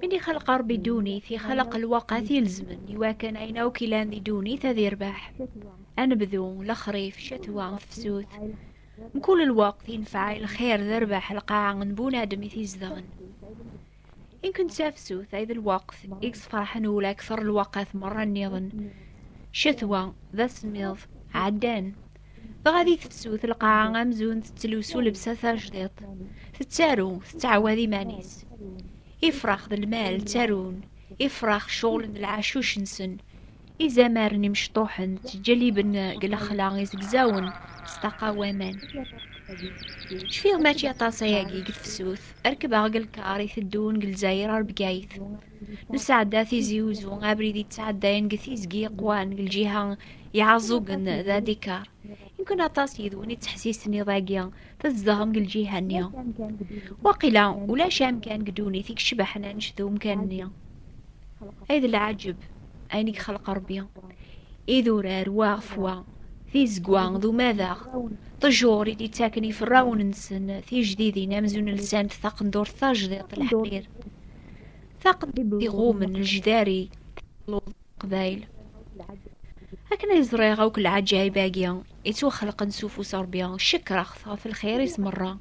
Min ixalq Ṛebbi ddunit, ixalq lwaqat ilezmen, iwakken ayen akk ilan di ddunit ad irbeḥ. Anebdu, lexrif, ccetwa, tefsut. Mkul lweqt yenfeɛ i lxir d rbeḥ lqaɛa n bunadem i t-izedɣen. Inken d tafsut ay d lweqt i yesferḥen ula akteṛ lwaqat meṛṛa nniḍen. Ccetwa, d asemmiḍ, ɛeddan. Tɣadi tefsut lqaɛa amzun tettlusu s ulebsa tajdiṭ. Tettaru, tettɛawad iman-is. Ifrax d lmal ttarun, ifrax ceɣlen d lɛacuc-nsen. Izamaren imecṭuḥen ttǧelliben deg lexla izegzawen s ṭaqa n waman. Cfiɣ mačči aṭas ayagi deg tefsut, rekbeɣ deg lkar iteddun deg Lezzayer ar Bgayet. nesɛedda tizi uzu abrid yettɛeddayen deg tizgi iqwan deg lǧiha iɛaẓugen d adikar yemkin aṭas yid-wen ittḥessisen iḍ-agi tzedɣem deg lǧiha-nni waqila ulac amkan deg ddunit i yecbaḥen annect d umkan-nni ay d lɛaǧeb ayen i yexleq Rebbi idurar waɣef wa tizegwa d umadaɣ ṭejur i d-ittaken iferrawen-nsen tijdidin amzun lsant taqendurt tajdiṭ leḥrir taqdimt iɣumen lejdari luḍ qbayl akken ay ẓriɣ akk lɛaǧayib-agi yettwaxelqen s ufus rebbi cekreɣ-t ɣef lxir-is merra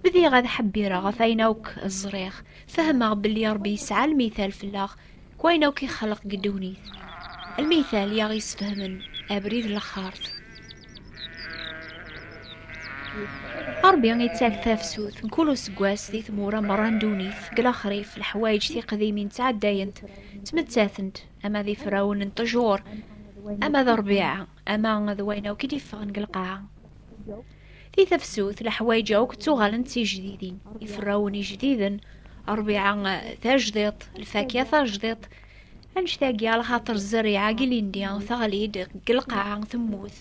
bdiɣ ad ḥebbireɣ ɣef ayen akk ẓriɣ fehmeɣ belli rebbi yesɛa lmital fell-aɣ Wayen akk ixleq deg ddunit. Lmital i aɣ-yesfehmen abrid n lexxart. Ṛebbi ittak tafsut n kul useggas di tmura merra n ddunit, deg lexrif, leḥwayeǧ tiqdimin ttɛeddayent, ttmettatent, ama d ifrawen n ṭṭjur, ama d rrbiɛa. Ama d wayen akk i d-iffɣen deg lqaɛa. Di tafsut, leḥwayeǧ akk ttuɣalen d tijdidin. Iferrawen ijdiden, rbiɛa tajdiṭ, lfakya tajdiṭ, annect-agi a lxaṭer zzerriɛa-g ilindi teɣli-d deg lqaɛa temmut,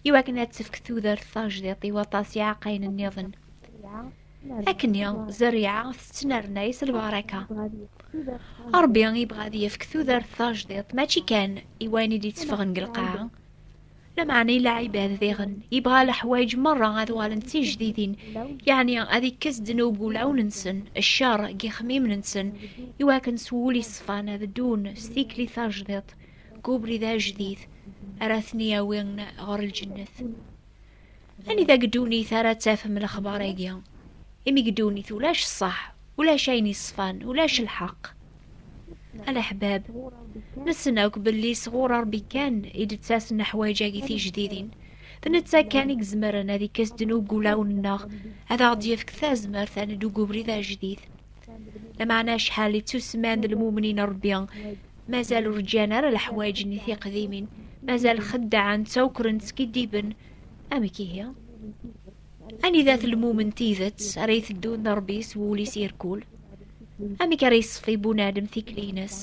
iwakken ad tefk tudert tajdiṭ i waṭas iɛeqqayen nniḍen. Akkenni, zerriɛa tettnernay s lbaraka. Ṛebbi yebɣa ad yefk tudert tajdiṭ, mačči kan i wayen i d-itteffɣen deg lqaɛa, lameɛna i lɛibad diɣen. Yebɣa leḥwayeǧ meṛṛa ad uɣalen d tijdidin, yeɛni ad ikkes ddnub deg wulawen-nsen, cceṛ deg yixemmimen-nsen, i wakken s wul yeṣfan ad ddun s tikli tajdiṭ, deg ubrid ajdid, ara ten-yawin ɣer lǧennet. Anida deg ddunit ara tafem lexbar-agi? Imi deg ddunit ulac ṣṣeḥ, ulac ayen yeṣfan, ulac lḥeqq. Alaḥbab, nessen akk belli sɣur Ṛebbi kan i d-ttasen leḥwayeǧ-agi tijdidin. D netta kan i izemren ad ikkes ddnub deg wulawen-nneɣ, ad aɣ-d-yefk tazmert ad neddu deg ubrid ajdid. Lameɛna acḥal i ttusemman d lmumnin n Ṛebbi, mazal ur ǧǧan ara leḥwayeǧ-nni tiqdimin, mazal xeddɛen, ttawkren, skiddiben, amek ihi anidat lmumen tidet ara iteddun d rebbi s wul-is irkul amek ara yesfi bunadem tikli-ines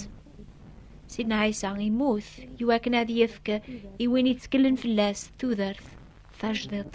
sidna ɛisa imut iwakken ad yefk i win ittkellen fell-as tudert tajdiḍt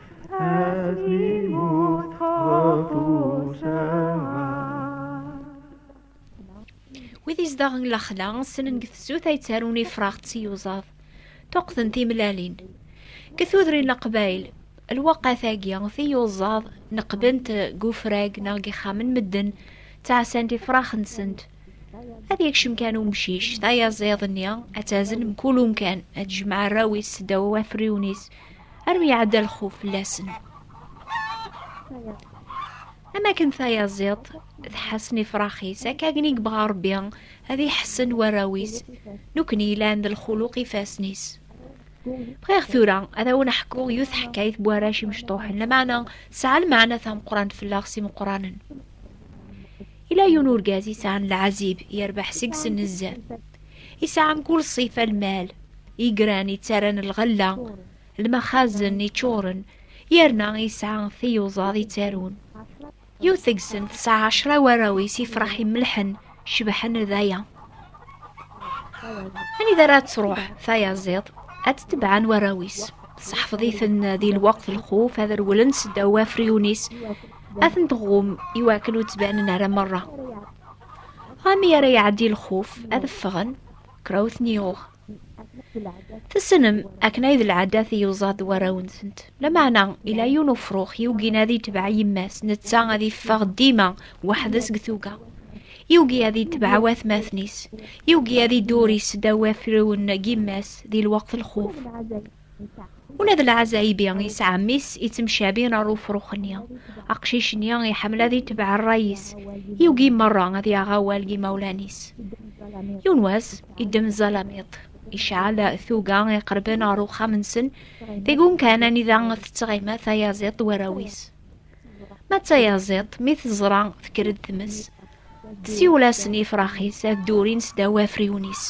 Wid izdaɣen lexla ssnen deg tezut ay ttarun ifrax d tiyuzaḍ tuqden timlalin deg tudrin leqbayel lwaqat-agi tiyuzaḍ neqbent deg ufrag neɣ deg ixxamen medden ttɛasant ifrax-nsent ad yekcem kan umcic tayaziḍ-nni ad tazen mkul umkan ad jemɛ arraw-is ddaw afriwen-is armi iɛedda lxuf fell-asen am akken tayaziḍt tḥassen ifrax-is akka akken i yebɣa rebbi ad iḥessen warraw-is nekkni yellan d lxuluq ifassen-is bɣiɣ tura ad awen-ḥkuɣ yiwet teḥkayt n warrac imecṭuḥen lameɛna tesɛa lmeɛna tameqqrant fell-aɣ s imeqqranen ila yiwen urgaz yesɛan lɛazib yerbeḥ seg-sen nezzeh Isɛan kul ṣṣifa lmal, igran yettaran lɣella, lmaxazen yeččuren, yerna yesɛa tiyuzaḍ yettarun. Yiwet deg-sen tesɛa ɛecra warraw-is ifrax imellḥen, cebḥen d aya. Anida ara tṛuḥ tayaziḍt, ad tetebɛen warraw-is. Seḥfeḍ-iten di lweqt lxuf, ad rewlen seddaw afriyun-is, ad ten-tɣum iwakken ur ttbanen ara merra. Ami ara iɛeddi lxuf ad ffɣen kra ur ten-yuɣ. Tessnem akken ay d lɛadat i yuẓad warraw-nsent. Lameɛna ila yiwen ufrux yugin ad yetbeɛ yemma-s, netta ad yeffeɣ dima weḥd-s deg tuga. Yugi ad yetbeɛ watmaten-is, yugi ad idurri s ddaw afriwen n yemma-s di lweqt lxuf. Ula d lɛazaybi yesɛa mmi-s yettemcabin ar ufrux-nni. Aqcic-nni iḥemmel ad itebɛ rray-is, yugi merra ad yaɣ awal n yimawlan-is. Yiwen wass, iddem ẓẓalamiṭ, iceɛɛel tuga iqerben ar uxxam-nsen, deg-un kan anida tettɣima tayaziḍt d warraw-is. Ma d tayaziḍt, mi teẓra tekker-d tmes, Siwel-asen ifrax-is ad durin sdaw afriwen-is.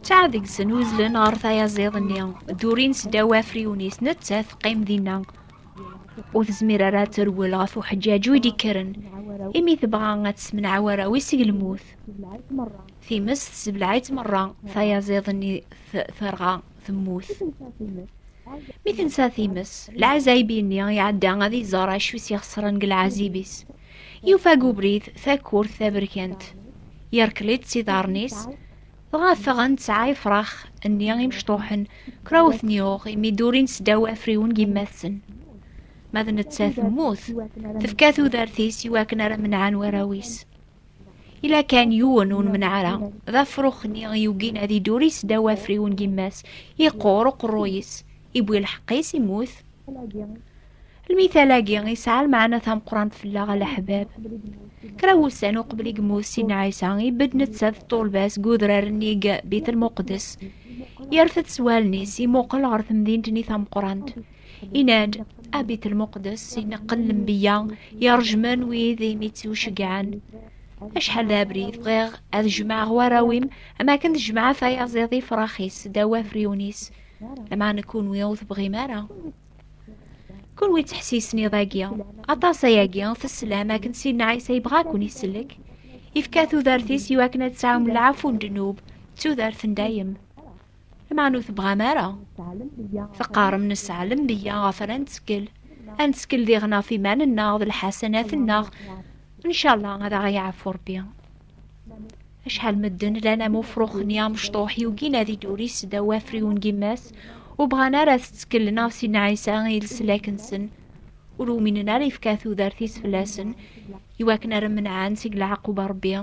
Ttaɛ deg-sen uzlen ɣer tayaziḍ-nni, durin sdaw afriwen-is, netta teqqim dinna. Ur tezmir ara ad terwel ɣef uḥeǧǧaǧu i d-ikkren, imi tebɣa ad tessemneɛ warraw-is seg lmut. Times tessebleɛ-itt merra, tayaziḍ-nni terɣa. temmut. Mi tensa times, lɛazayb-nni iɛedda ad iẓer acu i s-ixesren deg lɛazib-is. Yufa deg ubrid takurt taberkant. Yerkel-itt s iḍarren-is, dɣa ffɣen tesɛa ifrax-nni imecṭuḥen, kra ur ten-yuɣ imi durin sdaw afriwen n yemma-tsen. Ma d nettat temmut, tefka tudert-is i wakken ara menɛen warraw-is. Ila kan yiwen ur nemneɛ ara, d afrux-nni yugin ad iduri sdaw afriwen n yemma-s, yeqqur uqerruy-is, iwwi lḥeqq-is, immut. Lmital-agi yesɛa lmeɛna tameqqrant fell-aɣ a leḥbab. Kra n wussan uqbel i yemmut Sidna Ɛisa, ibedd netta d ṭṭulba-s deg udrar-nni deg Bitel Muqeddes. Yerfed s wallen-is, imuqel ɣer temdint-nni tameqqrant. Inad, abit lmuqdes ineqqen lembiya yerjmen wid imi tt-uceggɛen. Acḥal d abrid bɣiɣ ad jemɛeɣ warraw-im am akken tejmeɛ tayaziḍ ifrax-is ddaw afriwen-is, lameɛna kunwi ur tebɣim ara. Kunwi ttḥessisen iḍ-agi, aṭas ayagi teslam akken Sidna Ɛisa yebɣa ad ken-isellek, ifka tudert-is iwakken ad tesɛum lɛafu n ddnub d tudert n dayem. Lameɛna ur tebɣam ara. Teqqarem nesɛa lemneyya ɣef ara nettkel. Ad nettkel diɣen ɣef iman-nneɣ d lḥasanat-nneɣ. Ncallah ad aɣ-yeɛfu Rebbi. Acḥal medden llan am ufrux-nni amecṭuḥ yugin ad iduri seddaw afriwen n yemma-s, ur bɣan ara ad tettkellen ɣef Sidna Ɛisa i leslak-nsen. ur uminen ara yefka tudert-is fell-asen iwakken ara menɛen seg leɛquba rebbi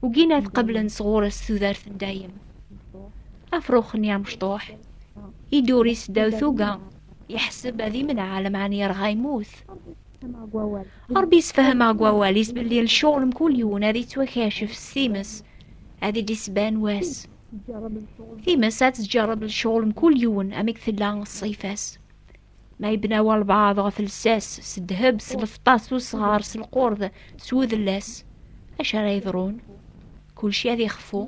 ugin ad qeblen sɣur-s tudert n dayem afrux n yamecṭuḥ iduri-s ddaw tuga yeḥseb ad imneɛ lemɛan yerɣa yemmut rebbi yesfehmeɣ deg wawal-is belli lecɣal mkul yiwen ad yettwakacef s times ad d-isban wass times ad tǧerreb lecɣal mkul yiwen amek tella ṣṣifa-s Ma yebna walbaɛḍ ɣef lsas, s ddheb, s lefṭa, s usɣar, s lqurd, s udellas, acu ara yeḍrun? Kulci ad ixfu.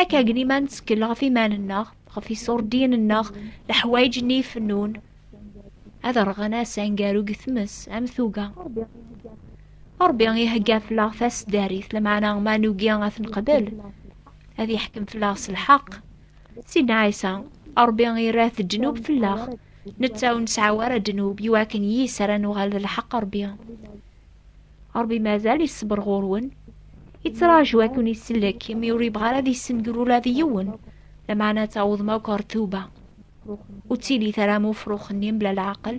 Akka agni ma nettkel ɣef iman-nneɣ, ɣef iṣurdiyen-nneɣ, leḥwayeǧ-nni ifennun, ad rɣen ass angaru deg tmes, am tuga. Ṛebbi ihegga fell-aɣ tasdarit, lameɛna ma nugi ad t-neqbel, ad yeḥkem fell-aɣ s lḥeqq, Sidna Ɛisa, Ṛebbi irah ddnub fell-aɣ, netta ur nesɛi ara ddnub, iwakken yis ara nuɣal d lḥeqq Ṛebbi. Ṛebbi mazal iṣṣber ɣur-wen, ittraǧu ad ken-isellek, imi ur yebɣi ara ad yessenger ula d yiwen, lameɛna ad tawḍem akk ɣer tuba. Ur ttilit ara am ufrux-nni mebla leɛqel.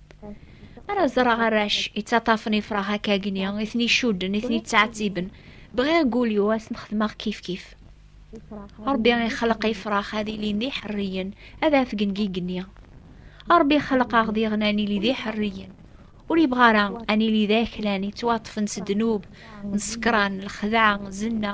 ara ẓreɣ arrac yettaṭṭafen ifrax akka gni i ten-icudden i ten-yettɛettiben bɣiɣ gulyu ad ten-xedmeɣ kifkif ṛebbi ixleq ifrax ad ilin d iḥerriyen ad afgen deg igenni ṛebbi xleq-aɣ diɣen ad nili d iḥerriyen ur yebɣa ara ad nili d aklan yettwaṭṭfen s ddnub n ṣekṛan lexdeɛ zenna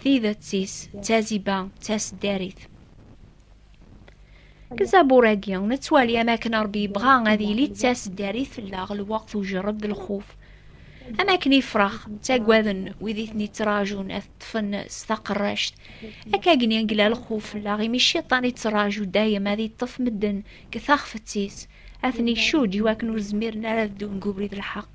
Tidet-is d taziba d taseddarit. Deg zabur-agi, nettwali am akken Ṛebbi yebɣa ad yili d taseddarit fell-aɣ lweqt ujerreb d lxuf. Am akken ifrax ttagaden wid i ten-ittrajun ad ṭṭfen s taqerract, akka gni yella lxuf fell-aɣ imi cciṭan ittraju dayem ad iṭṭef medden deg taxfet-is, ad ten-icudd iwakken ur zmiren ara ad ddun deg ubrid n lḥeqq.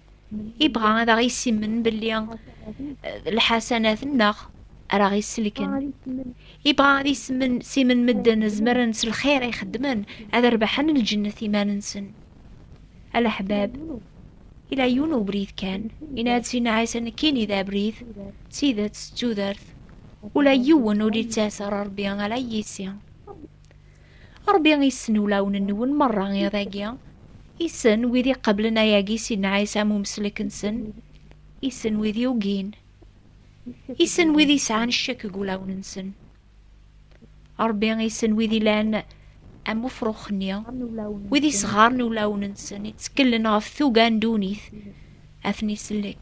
Ibɣa ad aɣ-issimen belli eh, lḥasanat-nneɣ ara ɣ-isselken. Ibɣa ad issimen simen medden zemren s lxir ay xeddmen ad rbaḥen lǧennet iman-nsen. Alaḥbab, ila yiwen ubrid kan, yenna-d sin Ɛisa nekkini d abrid, d tidet, d tudert. Ula yiwen ur d-yettas ɣer Rebbi ala yis-i. Ṛebbi issen ulawen-nwen meṛṛa iḍ-agi. Issen wid iqeblen ayagi si nnɛayes am umeslek-nsen. Issen wid yugin. Issen wid yesɛan ccek deg ulawen-nsen. Ṛebbi issen wid ilan am ufrux-nni, wid isɣaren ulawen-nsen, itteklen ɣef tuga n ddunit, ad ten-isellek.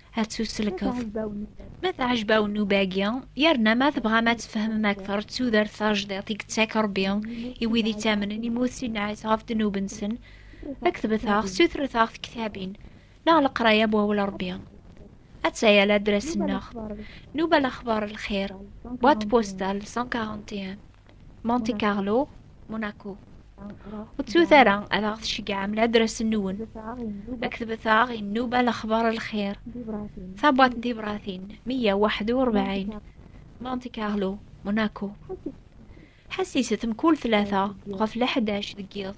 ad tt-uselkeḍ. Ma teɛjeb-awen nnuba-agi, yerna ma tebɣam ad tfehmem akteṛ d tudert tajdiṭ i yettak Ṛebbi i wid ittamnen imi ur tt-inɛis ɣef ddnub-nsen, ktbet-aɣ, sutret-aɣ tektabin, neɣ leqraya n Wawal Ṛebbi. Atta-ya ladras-nneɣ, Nnuba Lexbaṛ Lxir, boîte postale 141. Monte Carlo, Monaco. Ur ttut ara ad aɣ-tceggɛem ladres-nwen. Ketbet-aɣ i nnuba lexbar lxir. Tabwaṭ n tibratin, 141, Monte Carlo, Monaco. Ḥessiset mkul tlata ɣef leḥdac deg yiḍ